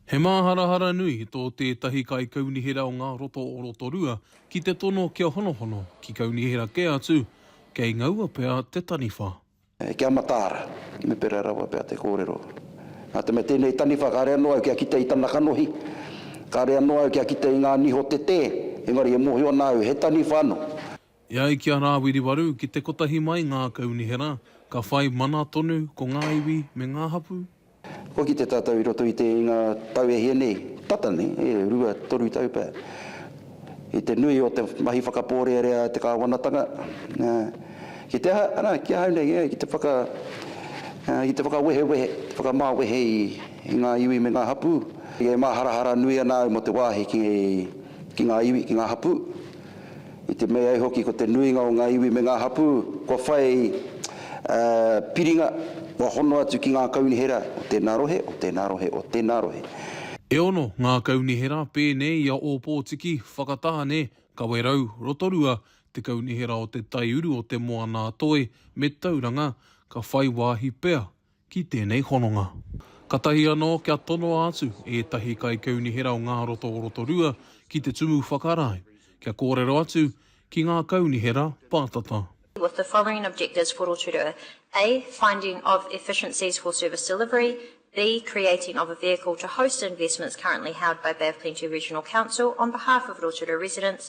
He māharahara nui tō tētahi kaikaunihera o ngā roto o Rotorua ki te tono kia honohono ki kaunihera kē atu, kei ngaua pea te taniwha. Ki a Mataara, me pērā rawa pea te kōrero. Nā te mea tēnei taniwha kāre anō au kia kite i tana kanohi, kāre anō au kia kite i ngā niho tetē, engari e mōhio ana au he taniwha anō. E ai ki a Rāwiriwaru, ki te kotahi mai ngā kaunihera, ka whai mana tonu ko ngā iwi me ngā hapū. Kua kite tātou i roto i te i ngā tau e hia nei, tata nei, e rua, toru tau pea, i te nui o te mahi whakapōrearea a te kāwanatanga, ā, ki te aha, arā, ki ahau nei, ā, ki te whaka, ā, ki te whakawehewehe, te whakamāwehe i, i ngā iwi me ngā hapū. E māharahara nui ana au mō te wāhi ki, ki ngā iwi, ki ngā hapū. I te mea ai hoki ko te nuinga o ngā iwi me ngā hapū kua whai piringa, kua hono atu ki ngā kaunihera o tēnā rohe, o tēnā rohe, o tēnā rohe. E ono ngā kaunihera pēnei i a Ōpōtiki, Whakatāne, Kawerau, Rotorua, te kaunihera o te taiuru o Te Moana-a-Toi me Tauranga, ka whai wāhi pea ki tēnei hononga. Katahi anō kia tonoa atu ētahi kaikaunihera o ngā roto o Rotorua ki te Tumu Whakarae, kia kōrero atu ki ngā kaunihera pātata. with the following objectives for Rotorua, A, finding of efficiencies for service delivery, B, creating of a vehicle to host investments currently held by Bay of Plenty Regional Council on behalf of Rotorua residents,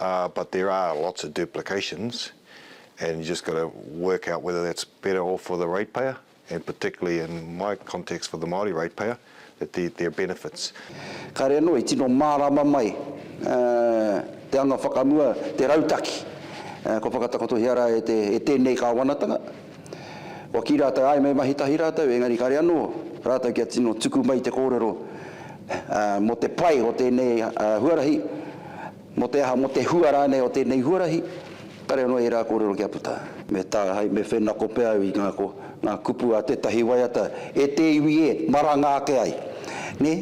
Uh but there are lots of duplications and you just got to work out whether that's better off for the ratepayer and particularly in my context for the Māori ratepayer that there there are benefits. Kāre anō i tino mārāma mai te anga whakamua, te rautaki kua whakatakotohia rā e tēnei kāwanatanga. Kua kī rātou, āe, me mahi tahi rātou, engari kāre anō rātou kia tino tuku mai te kōrero mō te pai o tēnei huarahi, mō te aha, mō te hua rānei o tēnei huarahi, kāre anō ērā kōrero kia puta. Me tāhae, me whenako pea au i ngā ko ngā kupu a tētahi waiata, e te iwi e, maranga ake ai, nē,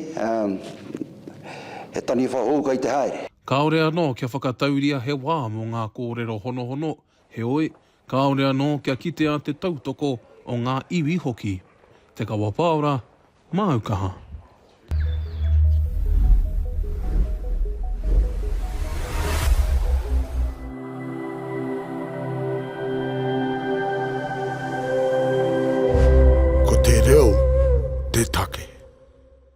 he taniwha hou kei te haere. Kāore anō kia whakatauria he wā mō ngā kōrero honohono, Heoi, kāore anō kia kitea te tautoko o ngā iwi hoki. Te Kawapaora, māu kaha. Ko te reo te take.